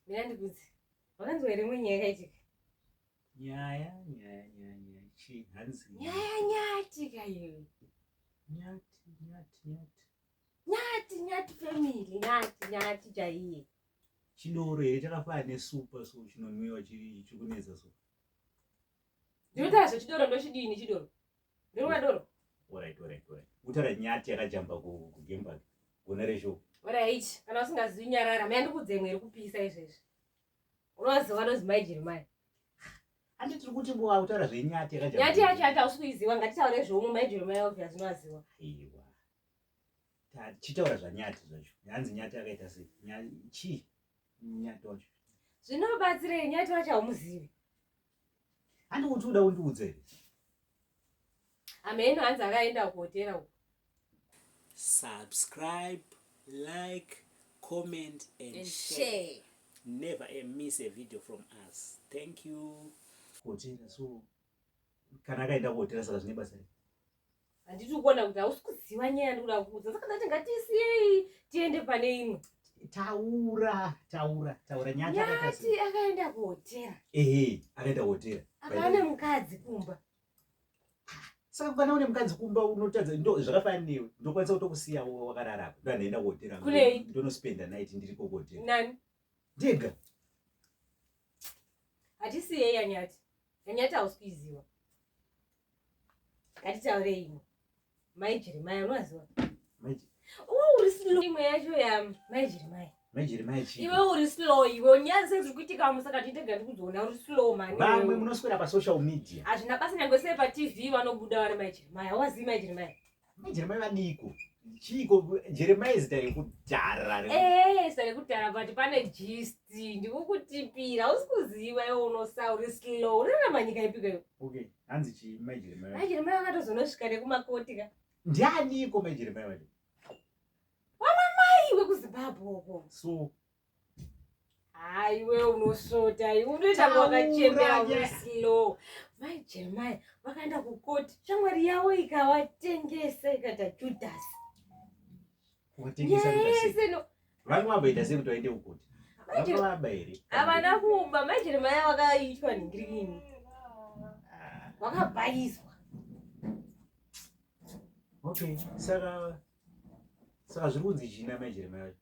Mina ndikudzi. Wakanzwa here imwe nyaya yakaitika? Nyaya, nyaya, nyaya, nyaya. Chii hanzi? Nyaya nyatika iyo. Nyati, nyati, nyati. Nyati, nyati family, nyati, nyati chaiye. Chidoro here chakafana nesupa so chinonwiwa chiri chikunetsa so. Ndinotaura zvechidoro ndochidini chidoro? Ndorwa doro. Alright, alright, alright. Utara nyati yakajamba ku ku game park. Gona resho. Alright, kana usingazivi nyarara, maya ndikudze imwe iri kupisa izvezvi. Unoziva nozi mai Jeremiah. Andi tiri kuti bo utara zve nyati yakajamba. Nyati yacho hata usi kuiziva, ngatitaure zvomwe mai Jeremiah obvious unoziva. Aiwa. Ta chitaura zva nyati zvacho. Nyanzi nyati yakaita se nyati chi nyati wacho. Zvinobatsirei nyati wacho haumuzivi? Handiuti uda undiudze here? Ameno hanzi akaenda kuhotera uko. Subscribe, like, comment and, and share. share. Never a miss a video from us. Thank you. Kuhotera so kana akaenda kuhotera saka zvine basa here? handiti ukuona kuti hausi kuziva nyaya yandikuda kuudza saka ndati ngatisiyei tiende pane imwe taura taura taura nyati akaenda kuhotera ehe akaenda kuhotera akaane mukadzi kumba saka kana une mukadzi kumba unotadza ndo zvakafanana newe ndokwanisa kutokusiya wakararako ndo andaenda kuhotera ndonospenda night ndiriko kuhotera ndega hatisi yei yanyati yanyati hausi kuiziva ngatitaure imwe mai jeremaya unoaziva uri slow imwe yacho ya mai jeremaya iwe uri slow iwe unyazi ziri kuitika musaka titega ndikuzoona uri slow mani vamwe munoswera pasocial media hazvina basa nyange sei patv vanobuda vari mai jeremaya hauvazivi mai jeremaya Jeremiah vaniko? Chiiko Jeremiah izita rekudhara re. Eh, sare kudhara but pane gist ndikukutipira usikuziva iwe unosa uri slow unorarama nyika ipiko iwe. Okay, hanzi chi mai Jeremiah. Mai Jeremiah akatozonosvika nekumakoti ka. Ndianiko mai Jeremiah vacho? Wamamai wekuZimbabwe uko. So haiwe unosota iwe unoita wakachembera uslow mai jeremaya vakaenda kukoti shamwari yavo ikawatengesa ikaita judhasi vange vabaita sei kuti vaende kukoti vangavaba here havana kuba mai jeremaya vakaitwa nhingirini wakabhaiswa okay saka saka zviri kunzi china majeremai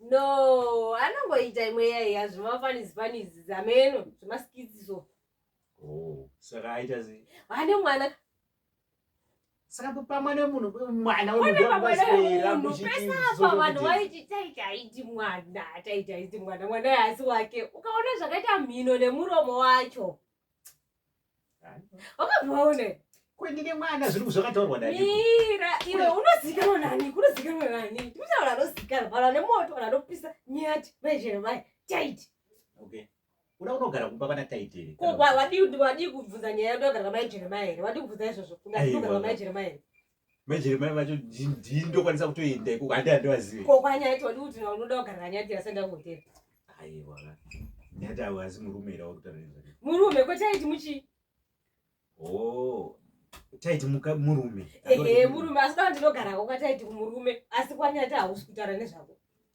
no anongoita imwe yaiya zvemafanisi fanisi zameno zvemaskitsi so oh, saka aita sei vane mwana saka pamwe nemunhu mwana wemunhupesaapa vanhu vaiti taitaiti mwana taitaiti mwana mwana yaasi wake ukaona zvakaita mhino nemuromo wacho wakabvaone kwenine mwana zviri zvakataurwa naira iwe unozikanwa nani kunozikanwa nani timusaura anozikanwa vanhu vane moto vanhu vanopisa nyati maizvemai taiti okay uda unogara kumba vana taitiri wadii kubvunza nyaya yandu agara kamai jeremaya here wadii kubvunza izvozvo unogara kamai jeremaya here majeremai vacho ndii ndokwanisa kutoenda ikoko handi handivazive ko kwanyaya todi kuti unoda kugarira nyaya dira senda kuhotera aiwa nyati awo asi murume ira wakutaurira murume ko chaiti muchi o oh, taiti muka murume ehe murume asi kana ndinogarako kwataiti kumurume asi kwanyati hausi kutaura nezvako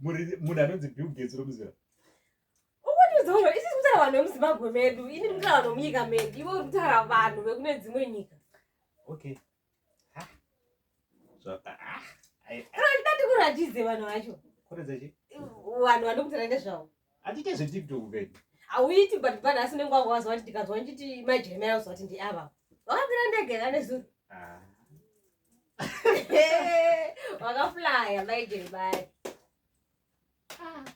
munhu anonzi bill gates romuzira ukutizono isi tikutaura vanhu vemuzimbabwe medu ini ndikutaura vanhu vemunyika medu iwe uri kutaura vanhu vekune dzimwe nyika okay ndatikuratize vanhu vacho vanhu vandikutaura nezvavo atite zvetiktok vedu hauiti but pane asi unenge wanga waziva kuti ndikanzwa ndichiti majeremera kuzoti ndiava wakapira ndege kanezuro wakaflaya maijeri bari